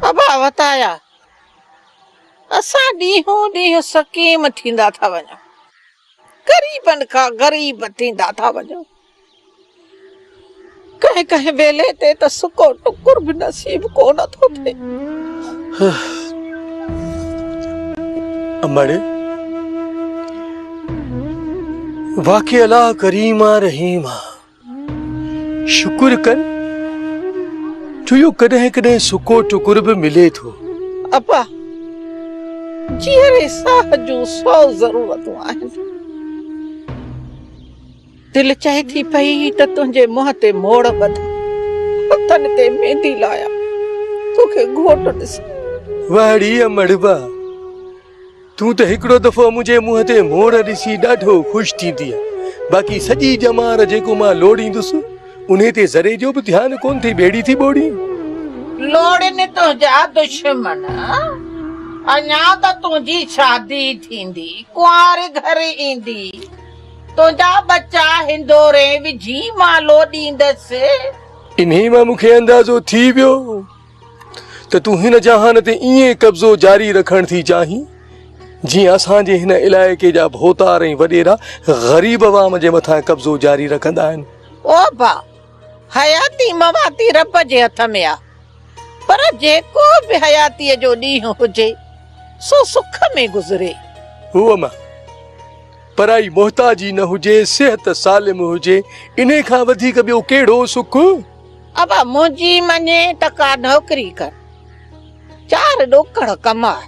ابا وتايا اسان ڏينهون ڏينهن سقيم ٿيندا ٿا وڃون غريبن کان غريب ٿيندا ٿا وڃون ڪنهن ڪنهن ويلي تي ته سڪو ٽڪر به نصيب ڪو نه ٿو ٿئي امڙي واقعي الله ڪريم رحيم شڪر ڪن ڇو جو ڪڏهن ڪڏهن سڪو ٽڪر به ملي ٿو ابا جيئري ساهه جون سو ضرورتون آهن دل چاهي ٿي پئي ته تنهنجي منهن تي موڙ ٻڌ هٿن تي ميندي لايا توکي گهوٽ ڏس وهڙي امڙبا تون ته هڪڙو دفعو منهنجي منهن تي موڙ ڏسي ڏاڍو خوش ٿيندينء، باقي سڄي ڄمار جيڪو مان لوڙيندس، انهي تي ذري جو به ڌيان ڪونه ٿي ٻيڙي ٿي ٻوڙين. لوڙين تنهنجا دشمن، اڃا ته تنهنجي شادي ٿيندي، ڪنواري گهر ايندي، تنهنجا ٻچا هندورين وجهي مان لوڏيندس. انهي مان مون کي اندازو ٿي ويو. ته تون هن جهان تي ائين قبضو جاري رکڻ ٿي چاهين جيئن اسان جي هن علائقي جا ڀوتار ۽ وڏيرا غريب عوام جي مٿان قبضو جاري رکندا آهن او با حياتي مواتي رب جي هٿ ۾ آ پر جيڪو به حياتي جو ڏينهن هجي سو سک ۾ گذري هو اما پرائي محتاجي نه هجي صحت سالم هجي انهي کان وڌيڪ ٻيو ڪهڙو سک ابا منهنجي مڃي ته ڪا نوڪري ڪر، چار ڏوڪڙ ڪماء.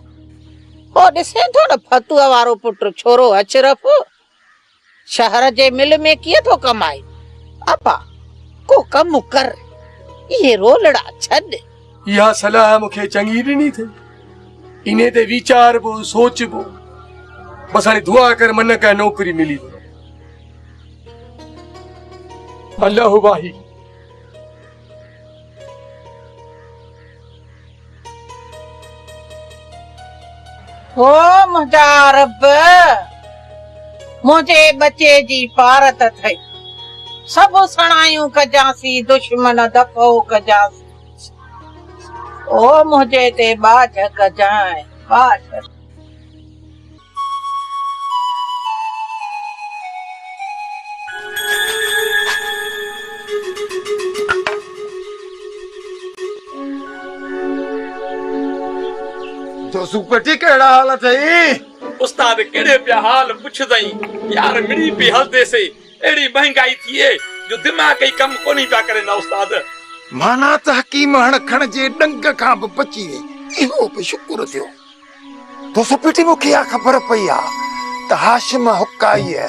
پوء ڏسين ٿو نه فتوء وارو پٽ ڇورو اشرف شهر جي مل ۾ ڪيئن ٿو ڪمائي. ابا ڪو ڪم ڪر، اهي رولڙا ڇڏ. اها صلاح مون کي چڱي ڏني اٿئي، انهي تي ويچاربو، سوچبو، بس هاڻي دعا ڪر من ڪنهن نوڪري ملي وڃي. الله واهي. او منهنجا رب! منهنجي ٻچي جي پارت اٿئي، سڀ سڻايون ڪجانسين، دشمن دفعو ڪجانسين. او منهنجي تي ٻاجهه ڪجانء، ٻاجهه. دوسو پٽي ڪهڙا حال اٿئي؟ استاد ڪهڙي پيا حال پڇدئين يار مڙئي پئي هلدي سي اهڙي مهنگائي ٿئي جو دماغ ئي ڪم ڪونهي پيا ڪرين نه استاد. معنيٰ ته حڪيم هڻ کڻ جي ڏنگ کان به بچي ويئي. اهو به شڪر ٿيو تو سپٽي مون کي اها خبر پئي آ ته هاشم حقائيء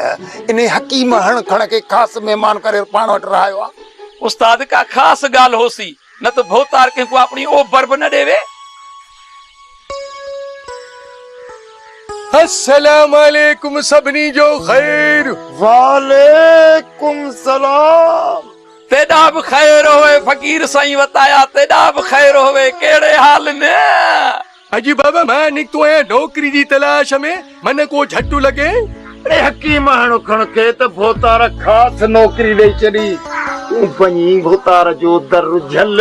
انهي حڪيم هڻ کڻ کي خاص مهمان ڪري پاڻ وٽ رهايو آ. استاد ڪا خاص ڳالهه هوسي نه ته ڀوتار ڪنهن ڪو آپڻي اوبر به نه ڏيوي. السلام عليڪم سڀني جو خير. وعليڪم سلام. تيڏا به خير هوي فقير سائين وتايا تيڏا به خير هوي ڪهڙي حال ۾. اڄ بابا مان نڪتو آهيان نوڪري جي تلاش ۾، من ڪو جهٽ لڳين. اڙي حڪيم اڻ کڻ کي ته ڀوتار خاص نوڪري ڏئي ڇڏي، تون پنهنجي ڀوتار جو در جهل.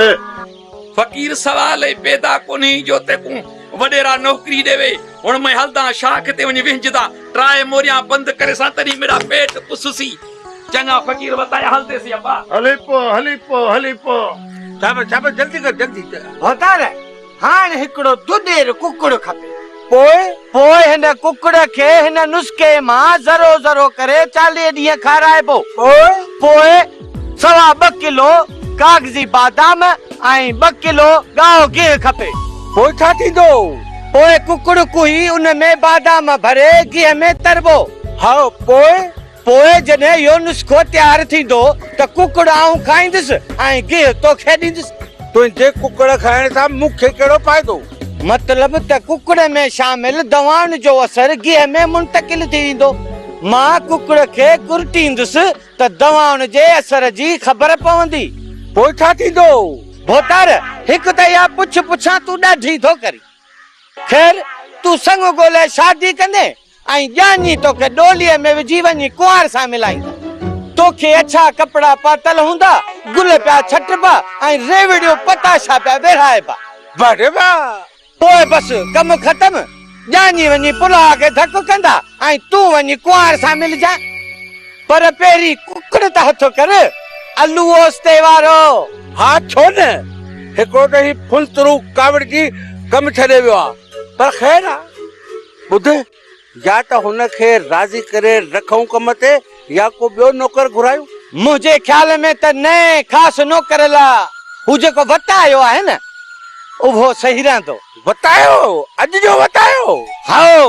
فقير سوال ئي پيدا ڪونهي جو تيڪون وڏيرا نوڪري ڏيوي، هن مئي هلدان شاخ تي وڃي وهنجدان، ٽرائي موريان بند ڪري سان تڏهن ميرا پيٽ پسسي. چڱا فقير وتايا هلدي سي ابا. هلي پو هلي پو هلي پو. جابر جابر جلدي ڪر جلدي ڪر ڀوتار. هاڻ هڪڙو دودير ڪڪڙ کپي. پوء؟ پوء هن ڪڪڙ کي هن نسخي مان ذرو ذرو ڪري چاليهه ڏينهن کارائبو. پوء؟ پوء سوا ٻه ڪلو ڪاغذي بادام ۽ ٻه ڪلو ڳاهو گيهه کپي. پوء ڇا ٿيندو؟ پوء ڪڪڙ ڪوهي ان ۾ بادام ڀري گيهه ۾ تربو. هائو، پوء؟ پوء جڏهن اهو نسخو تيار ٿيندو ته ڪڪڙ آئون کائيندس ۽ گيهه توکي ڏيندس. تنهنجي ڪڪڙ کائڻ سان مون کي ڪهڙو فائدو؟ مطلب ته ڪڪڙ ۾ شامل دوائن جو اثر گيهه ۾ منتقل ٿي ويندو. مان ڪڪڙ کي ڪرٽيندس ته دوائن جي اثر جي خبر پوندي. پوء ڇا ٿيندو؟ ڀوتار، هڪ ته اها پڇ پڇان تون ڏاڍي ٿو ڪرين. خير، تون سڱ ڳولهي شادي ڪندين؟ ۽ ڄاڃي توکي ڏوليء ۾ وجهي وڃي ڪنوار سان ملائيندا. توکي اڇا ڪپڙا پاتل هوندا، گل پيا ڇٽبا ۽ ريوڙيون پتاشا پيا ورهائبا. بڙ واهه! پوء بس ڪم ختم، ڄاڃي وڃي پلها کي ڌڪ ڪندا ۽ تون وڃي ڪنوار سان ملجانء. پر پهرين ڪڪڙ ته هٿ ڪر، الو اوستي وارو! ها ڇو نه! هڪڙو ته هي ڦلترو ڪاوڙجي ڪم ڇڏي ويو آ، پر خير آ. ٻڌ، يا ته هن کي راضي ڪري رکئون ڪم تي يا ڪو ٻيو نوڪر گهرايون. منهنجي خيال ۾ ته نئين خاص نوڪر لا هو جيڪو وتايو آهي نه، اهو صحيح رهندو. وتايو؟ اڄ جو وتايو؟ هائو!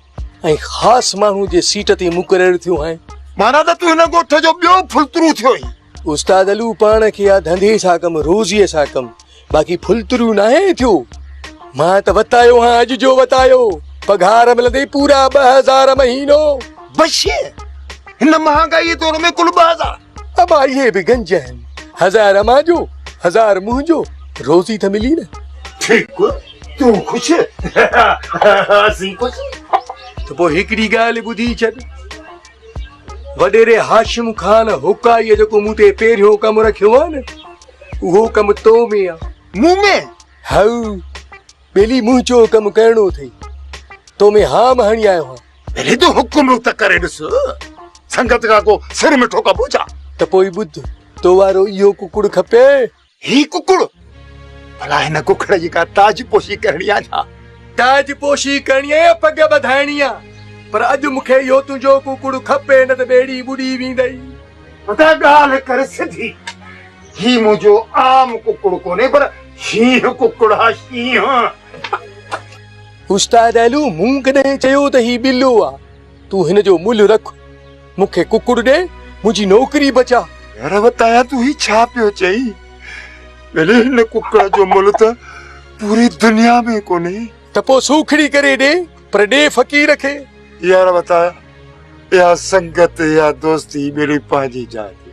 ۽ خاص ماڻهو جي سيٽ تي مقرر ٿيو آهين. معنيٰ ته تون هن ڳوٺ جو ٻيو ڦلترو ٿيو آهين. استاد علو پاڻ کي آ ڌنڌي سان ڪم، روزيء سان ڪم، باقي ڦلترو ناهين ٿيو. مان ته وتايو هان اڄ جو وتايو، پگهار ملندي پورا ٻه هزار مهينو. بشير! هن مهانگائيء دور ۾ ڪل ٻه هزار؟ اباهيء به گنج آهن، هزار امان جو، هزار منهن جو، روزي ته ملي نه. ٺيڪ، تون خوش، اسين خوش. ته پوء هڪڙي ڳالهه ٻڌي ڇڏ، وڏيري هاشم خان هوڪائيء جيڪو مون تي پهريون ڪم رکيو آهي نه، اهو ڪم تو ۾ آهي. مون ۾؟ هائو. ٻيلي منهن چيو ڪم ڪرڻو اٿئي تو ۾ هام هڻي آيو هان پهرين تو حڪم ته ڪري ڏس سنگت کان ڪو سر مٺو ڪبو ڇا ته پوء ٻڌ تو وارو اهو ڪڪڙ کپي هي ڪڪڙ ڀلا هن ڪڪڙ جي ڪا تاج پوشي ڪرڻي آ ڇا تاج پوشي ڪرڻي آ يا پڳ ٻڌائڻي آ پر اڄ مون کي اهو تنهنجو ڪڪڙ کپي نه ته ٻيڙي ٻڏي ويندئي پتا ڳالهه ڪر سڌي. هي منهنجو عام ڪڪڙ ڪونهي پر شينهن ڪڪڙ آ شينهن. استاد علو مون ڪڏهن چيو ته هي ٻلو آ. تون هن جو ملهه رک. مون کي ڪڪڙ ڏي منهنجي نوڪري بچاء. يار وتايان تون هي ڇا پيو چئين. ڀيلي هن ڪڪڙ جو ملهه ته پوري دنيا ۾ ڪونهي. ته پوء سوکڙي ڪري ڏي پر ڏي فقير کي. يار وتايان. يا سنگت يا دوستي ملي پنهنجي جاء تي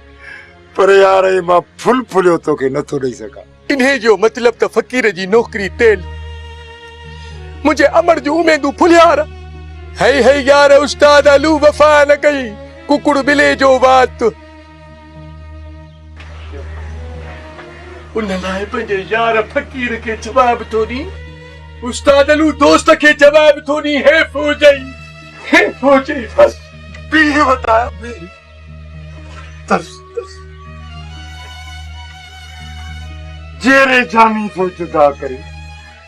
پر يار اي مان ڦل ڦليو توکي نٿو ڏئي سگهان. انهي جو مطلب ته فقير جي نوڪري تيل منهنجي امڙ جون اميدون ڦلهيار. هئي هئي يار استاد الو وفا نه ڪئي ڪڪڙ ٻلي جو وات. ان لاء پنهنجي يار فقير کي جواب ٿو ڏين. استاد علو دوست کي جواب ٿو ڏين هي فوجي هي فوجي بس پيء وٽ آيو هي ترس ترس جيري جامي ٿو جدا ڪري.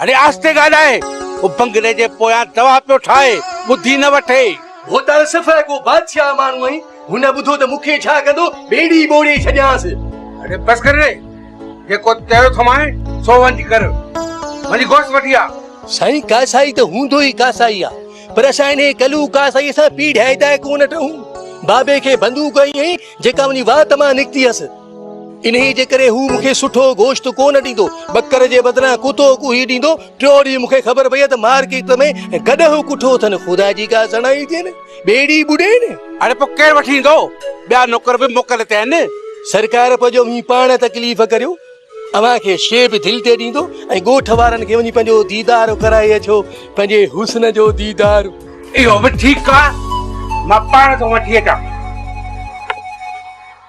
هڙي آهستي ڳالهاء. هو بنگلي جي پويان دوا پيو ٺاهي، ٻڌي نه وٺي. هو ته صفا ڪو بادشاهه ماڻهو آهين، هن ٻڌو ته مون کي ڇا ڪندو، ٻيڙي ٻوڙي ڇڏيانس. هڙي بس ڪر ري، جيڪو چيو اٿومانء سو وڃي ڪر، وڃي گوشت وٺي آ. سائين ڪاسائي ته هوندو ئي ڪاسائي آ، پر اسان انهي ڪلوء ڪاسائيء سان پيڙهي ڊاهي ڊاهي ڪونه ٽهون. بابي کي بندوق هئي ائين، جيڪا انهي وات مان نڪتي هيس. انهيء جي ڪري هو مون کي سٺو گوشت ڪو نه ڏيندو، ٻڪر جي بدران ڪتو ڪوهي ڏيندو. ٽيون ڏينهن مون کي خبر پيئي ته مارڪيٽ ۾ گڏهه ڪٺو اٿن، خدا جي ڪا سڻائي ٿئي نه، ٻيڙي ٻڏي نه. اڙي پوء ڪير وٺي ايندو، ٻيا نوڪر به موڪل تي آهن. سرڪار پوء جو اوهين پاڻ تڪليف ڪريو، اوهان کي شيء به دل تي ڏيندو ۽ ڳوٺ وارن کي وڃي پنهنجو ديدار ڪرائي اچو، پنهنجي حسن جو ديدار. اهو به ٺيڪ آهي، مان پاڻ ٿو وٺي اچان.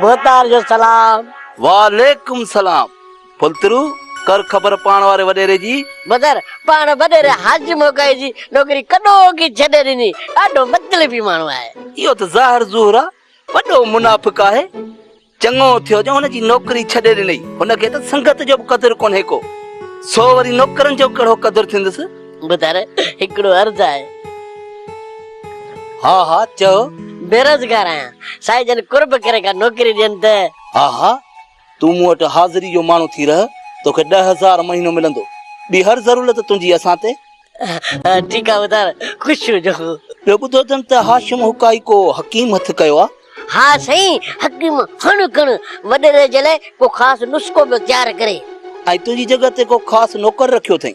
ڀوتار جو سلام. وعليڪم سلام پلترو ڪر خبر پاڻ واري وڏيري جي. بدر پاڻ وڏيري حاجي موڳائي جي نوڪري ڪڏو ڪي ڇڏي ڏني ڏاڍو مطلبي ماڻهو آهي. اهو ته ظاهر ظهور آ وڏو منافق آهي چڱو ٿيو جو هن جي نوڪري ڇڏي ڏنئي هن کي ته سنگت جو به قدر ڪونهي ڪو سو وري نوڪرن جو ڪهڙو قدر ٿيندس. ٻڌر هڪڙو عرض آهي. ها ها چئو. بيروزگار آهيان سائين جن قرب ڪري ڪا نوڪري ڏين ته. ها ها تون مون وٽ حاضري جو ماڻهو ٿي رهه توکي ڏهه هزار مهينو ملندو ٻي هر ضرولت تنهنجي اسان تي. ٺيڪ آهي ٻڌر خوش هجو. ٻيو ٻڌو اٿم ته هاشم حقائي ڪو حڪيم هٿ ڪيو آهي. ها سائين حڪيم هڻ ڪڻ وڏيري جي لاء ڪو خاص نسخو پيو تيار ڪري. ۽ تنهنجي جڳهه تي ڪو خاص نوڪر رکيو اٿئي.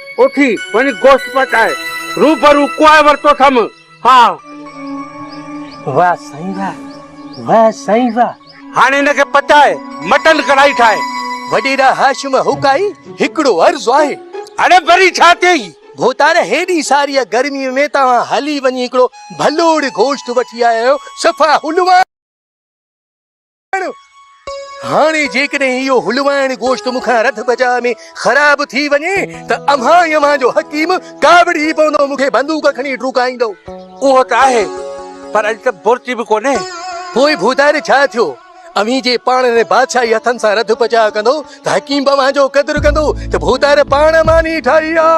اٿي وڃ گوشت پچائي روبرو ڪوهه ورتو ٿم. ها. واه سائين واه واه سائين واه. هاڻي هن کي پچائي مٽن ڪڙهائي ٺاهه. وڏيرا هاشم هوڪائي هڪڙو عرض آهي. اڙي وري ڇا ٿيئي؟ ڀوتار هيڏي ساريء گرميء ۾ توهان هلي وڃي هڪڙو ڀلوڙ گوشت وٺي آيا آهيو صفا حلوا. هاڻي جيڪڏهن اهو هلوائڻ گوشت مون کان رڌ بجاء ۾ خراب ٿي وڃي ته اوهان ئي اوهان جو حڪيم ڪاوڙجي پوندو، مون کي بندوق کڻي ڊوڪائيندو. اهو ته آهي، پر اڄ ته بورچي به ڪونهي. پوء ڀوداري ڇا ٿيو؟ اوهين جي پاڻ هن بادشاهي هٿن سان رڌ بجاء ڪندو ته حڪيم به اوهان جو قدر ڪندو ته ڀودار پاڻ ماني ٺاهي آ.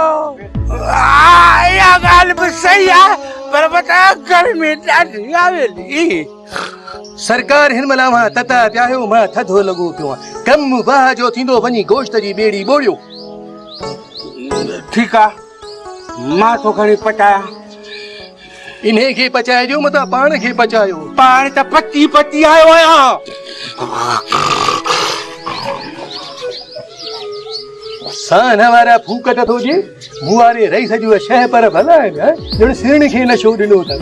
اها ڳالهه به صحيح آهي، پر وٽان گرمي ڏاڍي آ ويندي. سرڪار هن مهل اوهان تتا پيا آهيو مان ٿڌو لڳو پيو آهيان ڪم واهه جو ٿيندو وڃي گوشت جي ٻيڙي ٻوڙيو ٺيڪ آ مان ٿو کڻي پچايان انهي کي پچائي ڏيو متان پاڻ کي پچايو پاڻ ته پچي پچي آيو آهيان سان وارا ڦوڪ ته ٿو ڏي مون واري رئيس جو شهه پر ڀلا آهن ڄڻ سيڻ کي نشو ڏنو اٿن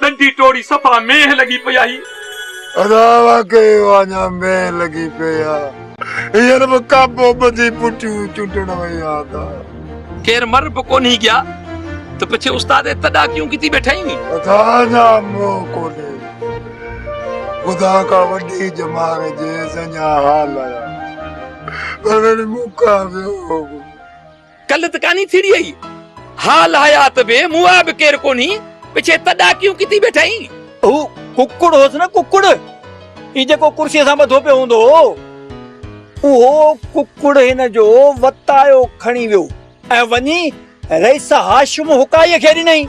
ڏنڊي ٽوڙي صفا مينهن لڳي پئي آهي. ادا واقعي واڃا مينهن لڳي پئي آ. هينئر به ڪاپو ٻڌي پٽيون چنڊڻ وئي آ ادا. ڪير مر به ڪونهي گيا ته پڇي استاد اي تڏا ڪيون ڪتي ٻيٺائين ني. ادا اڃا منهن کولي خدا کان وڏي ڄمار جيس اڃا حال آيا پر وري مون کان ويو. ڪل ته ڪاني ٿيڙي اهي حال حيات به مئا به ڪير ڪونهي پڇي ته ڏاڪيون ڪٿي بيٺا اهي. هو ڪڪڙ هوس نه ڪڪڙ هي جيڪو ڪرسي سان ٻڌو پيو هوندو هو اهو ڪڪڙ هن جو وتايو کڻي ويو ۽ وڃي رئيس هاشم هڪائي کي ڏنائين.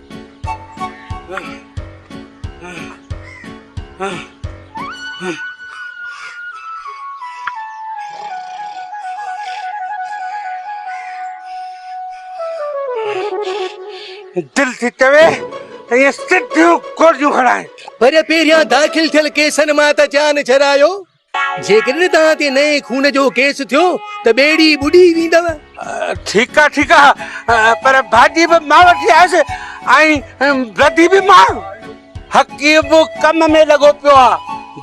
دل ٿي چوي ته ايئن سڌيون گوليون هڻائي وري پهريان داخل ٿيل ڪيسن مان ته جان جرايو جيڪڏهن توهان تي نئين خون جو ڪيس ٿيو ته ٻيڙي ٻڏي ويندو. ٺيڪ آ ٺيڪ آ پر ڀاڄي به مان وٺي آيس ۽ بدي به مان. حقي به ڪم ۾ لڳو پيو آ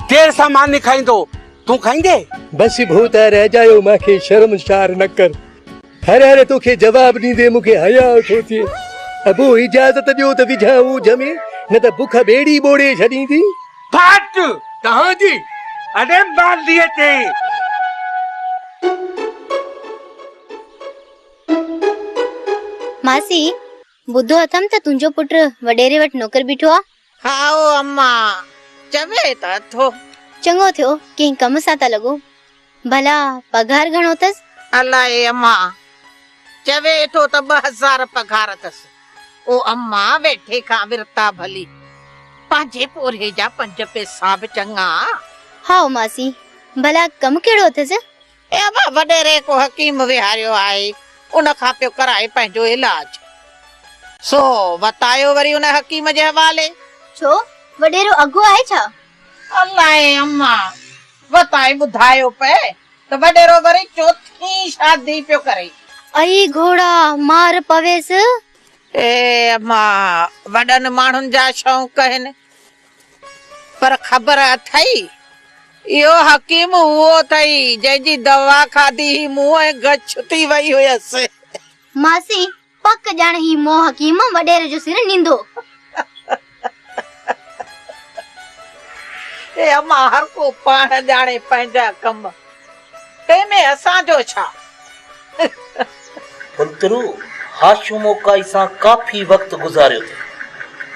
دير سان ماني کائيندو تون کائيندي. بس ڀوتار اجايو مان کي شرمسار نه ڪر. هر هر توکي جواب ڏيندي مون کي حياء ٿو ٿئي. ابو اجازت ڏيو ته وجهان اوجهه ۾، نه ته بک ٻيڙي ٻوڙي ڇڏيندي. ڦاٽ توهان جي اڙي مالهيء تي. ماسي، ٻڌو اٿم ته تنهنجو پٽ وڏيري وٽ نوڪر بيٺو آ. هائو اما چوي ته ٿو. چڱو ٿيو ڪنهن ڪم سان ته لڳو. ڀلا پگهار گهڻو اٿس؟ الاء اما چوي ٿو ته ٻه هزار پگهار اٿس. او اما ويٺي کان ورتا ڀلي پنهنجي پورهيي جا پنج پئسا به چڱا. هائو ماسي ڀلا ڪم ڪهڙو اٿس؟ اي ابا! وڏيري ڪو حڪيم ويهاريو آهي، ان کان پيو ڪرائي پنهنجو علاج. سو وتايو وري ان حڪيم جي حوالي. ڇو؟ وڏيرو اگهو آهي ڇا؟ الائي اما! وتائي ٻڌايو پئي ته وڏيرو وري چوٿين شادي پيو ڪري. اي گهوڙا! مار پويس. اي اما! وڏن ماڻهن جا شونق هن، پر خبر اٿئي، اهو حڪيم اهو اٿئي، جنهن جي دوا کاڌي هي منهن ۽ گڇ ٿي وئي هيس. ماسي، پڪ ڄڻ هي مون حڪيم وڏيري جو سر نيندو. اي امان، هر ڪو پاڻ ڄاڻي پنهنجا ڪم. تنهن ۾ اسان جو ڇا؟ بنترو، ها شوموڪائي سان ڪافي وقت گذاريو اٿئي.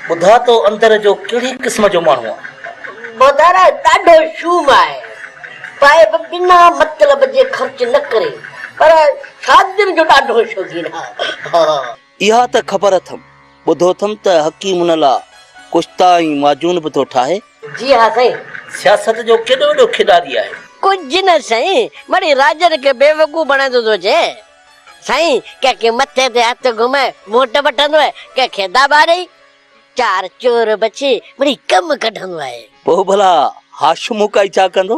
ٻڌاء تو اندر جو ڪهڙي قسم جو ماڻهو آهي؟ ٻڌر ڏاڍو شوم آهي. پائي به بنا مطلب جي خرچ نه ڪري. پر شادين جو ڏاڍو شوقين آهي. اها ته خبر اٿم، ٻڌو اٿم ته حڪيم ان لا ڪشتا ۽ معجون به ٿو ٺاهي. جي ها سائين. سياست جو ڪيڏو وڏو کيڏاري آهي. ڪجهه نه سائين، مڙئي راڄن کي بيوقوف بڻائيندو ٿو اچي. سائين، ڪنهن کي مٿي تي هٿ گهمائي ووٽ وٺندو آهي، ڪنهن کي داٻا ڏئي، چار چور بڇي مڙئي ڪم ڪڍندو آهي. پوء ڀلا هاشم هوڪائي ڇا ڪندو؟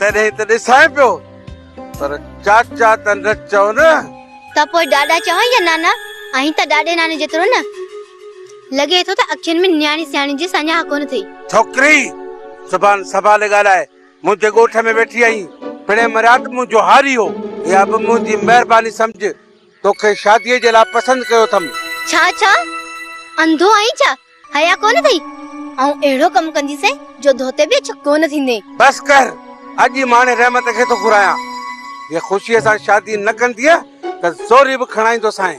تڏهن ته ڏسانء پيو پر چاچا ته نه چئو نه. ته پوء ڏاڏا چوان يا نانا؟ آهين ته ڏاڏي ناني جيترو نه. لڳي ٿو ته اکين ۾ نياڻي سياڻي جي ساڃاهه ڪونه ٿئي. ڇوڪري! زبان سنڀالي ڳالهاء. منهنجي ڳوٺ ۾ ويٺي آهين. پڻهين مريات منهنجو هاري هو. اها به منهنجي مهرباني سمجهه. توکي شاديء جي لاء پسند ڪيو اٿم. ڇا ڇا؟ انڌو آهين ڇا؟ حيا ڪونه اٿئي؟ آئون اهڙو ڪم ڪنديسين جو ڌوتي به اڇو ڪونه ٿيندين. بس ڪر، اڄ ئي مهاڻي رحمت کي ٿو گهرايان. جي خوشيء سان شادي نه ڪندينء ته زوري به کڻائيندوسانء.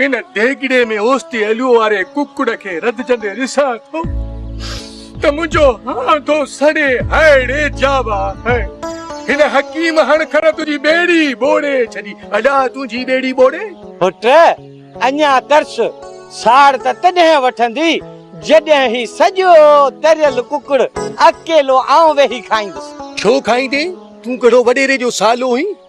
ان ديڳڙي ۾ اوستي اليو واري ڪڪڙ کي رڌجندي ڏسان ٿو ته منهنجو هاندو سڙي هائڙي جاوا هي. هن حڪيم هڻ کڻ تنهنجي ٻيڙي ٻوڙي ڇڏي. ادا تنهنجي ٻيڙي ٻوڙي؟ پٽ، اڃا ترس. ساڙ ته تڏهن وٺندي، جڏهن هي سڄو تريل ڪڪڙ اڪيلو آئون ويهي کائيندس. ڇو کائيندين؟ تون ڪهڙو وڏيري جو سالو هين؟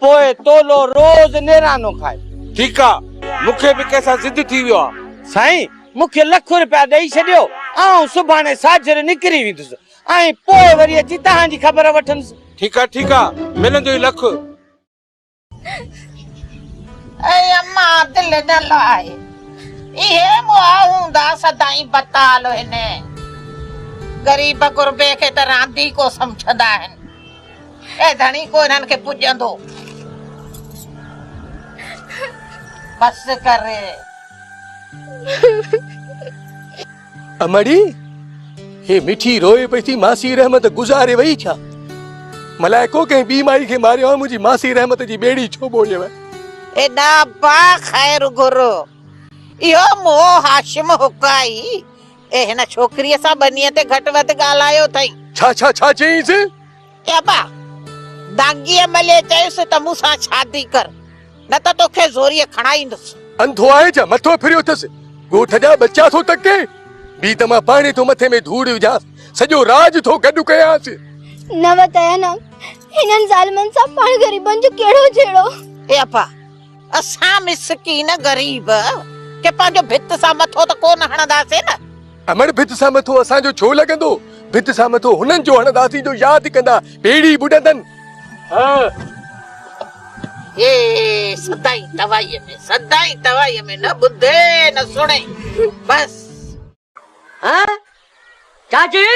پوء تولو روز نيرانو کائي. ٺيڪ آ. مون کي به ڪنهن سان ضد ٿي ويو آ. سائين، مون کي لک روپيا ڏئي ڇڏيو، آئون سڀاڻي ساجھر نڪري ويندس ۽ پوء وري اچي توهان جي خبر وٺندس. ٺيڪ آ، ٺيڪ آ، ملندو ئي لک. اي اما دل نه لاء، اهي مئا هوندا سدائين بتال هن غريب غربي کي ته رانديڪو سمجھندا آهن. اي ڌڻي ڪو انهن کي پڄندو. بس ڪر ري. امڙي هي مٺي روئي پئي ٿي ماسي رحمت گذاري وئي ڇا؟ ملائڪو ڪنهن ٻي مائي کي ماريو آهي منهنجي ماسي رحمت جي ٻيڙي ڇو ٻوڙيو آهي؟ اي ڏاهپا خير گهر اهو منهن هاشم هڪ آهي اي هن ڇوڪريء سان ٻنيء تي گهٽ وڌ ڳالهايو اٿئي. ڇا ڇا ڇا چيائينس؟ اي ابا! دانگيء مليء چيس ته مون سان شادي ڪر، نه ته توکي زوريء کڻائيندس. انڌو آهين ڇا؟ مٿو ڦريو اٿس. ڳوٺ جا ٻچا ٿو تڪين؟ بيهه ته مان پاڻهي ٿو مٿي ۾ ڌوڙ وجهانس. سڄو راڄ ٿو گڏ ڪيانس. نه وتايان آ. هنن ظالمن سان پاڻ غريبن جو ڪهڙو جهيڙو؟ اي ابا! اسان مسڪين غريب ڪي پنهنجو ڀت سان مٿو ته ڪو نه هڻنداسين نه. امڙ ڀت سان مٿو اسان جو ڇو لڳندو، ڀت سان مٿو هنن جو هڻنداسين جو ياد ڪندا ٻيڙي ٻڏندن. هه. هي سدائين توائيء ۾ سدائين توائيء ۾ نه ٻڌي نه سڻي بس. ها چاچي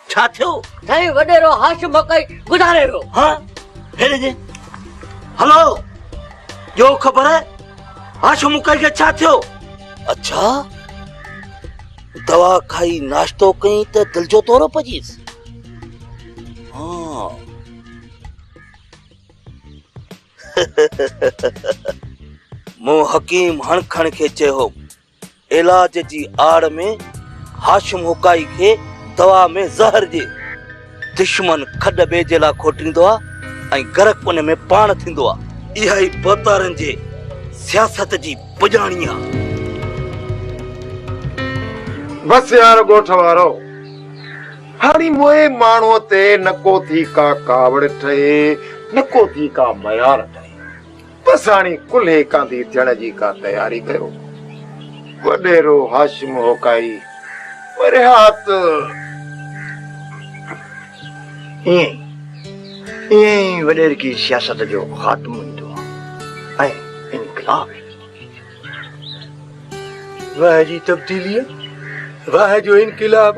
ڇا ٿيو؟ سائين وڏيرو هاشم مڪائي گذاري ويو. ها هيڏي جي هلو ڏيو خبر هاشم مڪائي کي ڇا ٿيو؟ اڇا دوا کائي ناشتو ڪئين ته دل جو دورو پجيس. مون حڪيم هڻکڻ کي چيو، علاج جي آڙ ۾ هاشم هوڪائي کي دوا ۾ زهر ڏي. دشمن کڏ ٻئي جي لاء کوٽيندو آ ۽ غرق ان ۾ پاڻ ٿيندو آ. اها ئي بوتارن جي سياست جي پڄاڻي آ. بس يار ڳوٺ وارؤ. هاڻي موئي ماڻهوء تي نه ڪو ٿي ڪا ڪاوڙ ٺهي، نه ڪو ٿي ڪا ميار ٺهي. بس هاڻي ڪلهي ڪانڌي ٿيڻ جي ڪا تياري ڪيو. وڏيرو هاشم هوڪائي پرهات ائين ئي ائين ئي وڏيرڪي سياست جو خاتمو ايندو ۽ انقلاب ايندو. واهه جي تبديليء، واهه جو انقلاب!